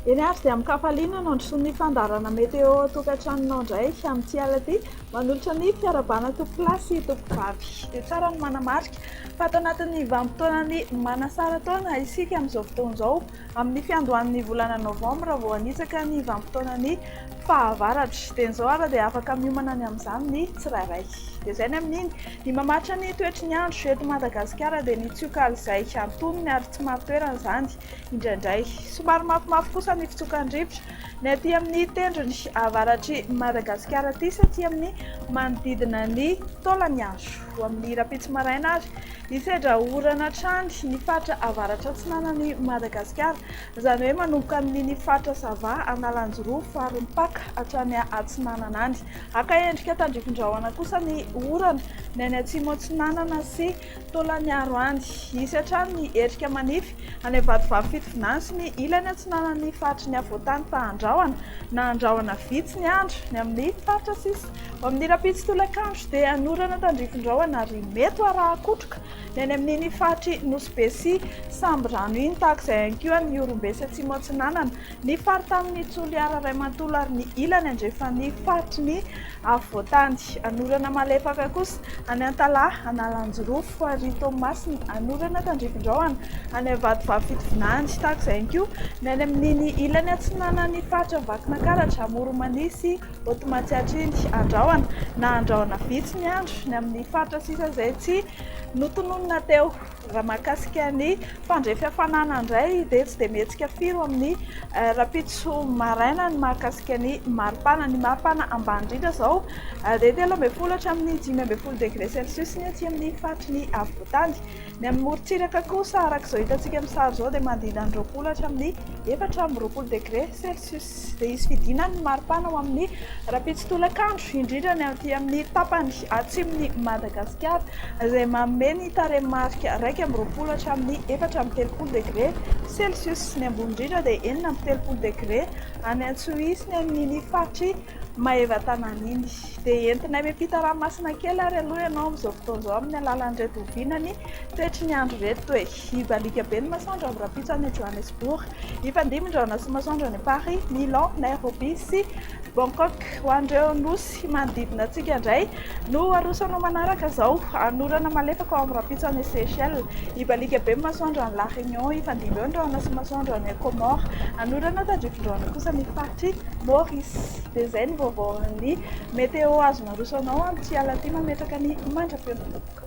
Eny ary dia amin-kafaliana no androsoan'ny ny fandaharana météo ao an-tokantranonao indray amin'ity alina ity. Manolotra ny fiarahabana an-tompokolahy sy tompokovavy. Dia tsara ny manamarika fa ato anatin'ny vanim-potoanan'ny manasara taona isika amin'izao fotoana izao. Amin'ny fiandohan'ny volana novambra vao hanitsaka ny vanim-potoanan'ny fahavaratra. Dieny izao ary dia afaka miomana ny amin'izany ny tsirairay. Dia izay ny amin'iny. Ny mamaritra ny toetry ny andro eto Madagasikara dia ny tsiok'alizay antonony ary tsy marin-toerana izany indraindray. Somary mafimafy kosa ny fitsokan'ny rivotra ny aty amin'ny tendrony avaratr'i Madagasikara aty sy aty amin'ny manodidina ny taolan'ny andro. ho amin'ny rahampitso maraina ary hisedra orana hatrany ny faritra avaratra-atsinanan'i Madagasikara, izany hoe manomboka amin'iny faritra Sava, Analanjirofo, Farimpaka hatrany atsinanana any. Haka endrika tandrifin-drahona kosa ny orana ny any atsimo-atsinanana sy Taolagnaro any. Hisy hatrany ny erika manify any amin'ny vatovavy fitovinany sy ny ilany atsinanan'ny faritry ny afovoan-tany fa handrahona na handrahona vitsy ny andro ny amin'ny faritra sisa. Ao amin'ny rahampitso tolakandro dia hanorana tandrifin-drahona ary mety ho arahan-kotroka ny any amin'iny faritry Nosy Be sy Sambirano iny, tahaka izay ihany koa any Ihorombe sy Atsimo Atsinanana, ny faritanin'i Toliara iray manontolo ary ny ilany andrefan'ny faritry ny afovoantany. Hanorana malefaka kosa any Antalaha, Analanjirofo, Farihy, Toamasina, hanorana tandrifin-drahona any Vatovavy Fitovinany, tahaka izay ihany koa ny any amin'iny ilany atsinanan'ny faritra Vakinankaratra, Amoronmania sy Oto Matsiatriny, Andrahona na Andrahona Vitsy ny andro ny amin'ny faritra sisa izay tsy notononina teo. Raha mahakasika ny fandrefy hafanana indray dia tsy dia mihetsika firy ho amin'ny rahampitso maraina ny mahakasika ny maripana. Ny maripana ambany indrindra izao dia telo ambin'ny folo hatramin'ny dimy ambin'ny folo degré celsius ny aty amin'ny faritry ny afovoantany. Ny amin'ny morontsiraka kosa araka izao hitantsika amin'ny sary izao dia manodidina ny roapolo hatramin'ny efatra amby roapolo degré celsius. Tsy dia hisy fidinana ny maripana ao amin'ny rahampitso tolakandro, indrindra ny aty amin'ny tapany atsimon'i Madagasikara, izay manome ny tarehimarika iraika amby roapolo hatramin'ny efatra amby telopolo degre celcius. Ny ambony indrindra dia enina amby telopolo degre any Antsohihy sy ny amin'iny faritr'i Maevatanàna iny. Dia entinay miampita ranomasina kely ary aloha ianao amin'izao fotoana izao amin'ny alalan'ireto oviana ny toetry ny andro ireto e! Izy alika be ny masoandro amin'ny rahampitso any Johannesburg. Hifandimby ny rahona sy ny masoandro any Paris, Milan, Nairobi sy Bangkok. Ho an'ireo nosy manodidina antsika indray no aroso anao manaraka izao. Anorana malefaka ao amin'ny rahampitso any Seychelles. Hiba alika be ny masoandro any La Réunion. Hifandimby eo ny rahona sy ny masoandro any Comores. Anorana tadrifin-drahona kosa ny faritry Maurice. Dia izay ny vaovaon'ny Météo azon'aroso anao amin'ity alina ity mametraka ny mandra-pion'ny vaovao.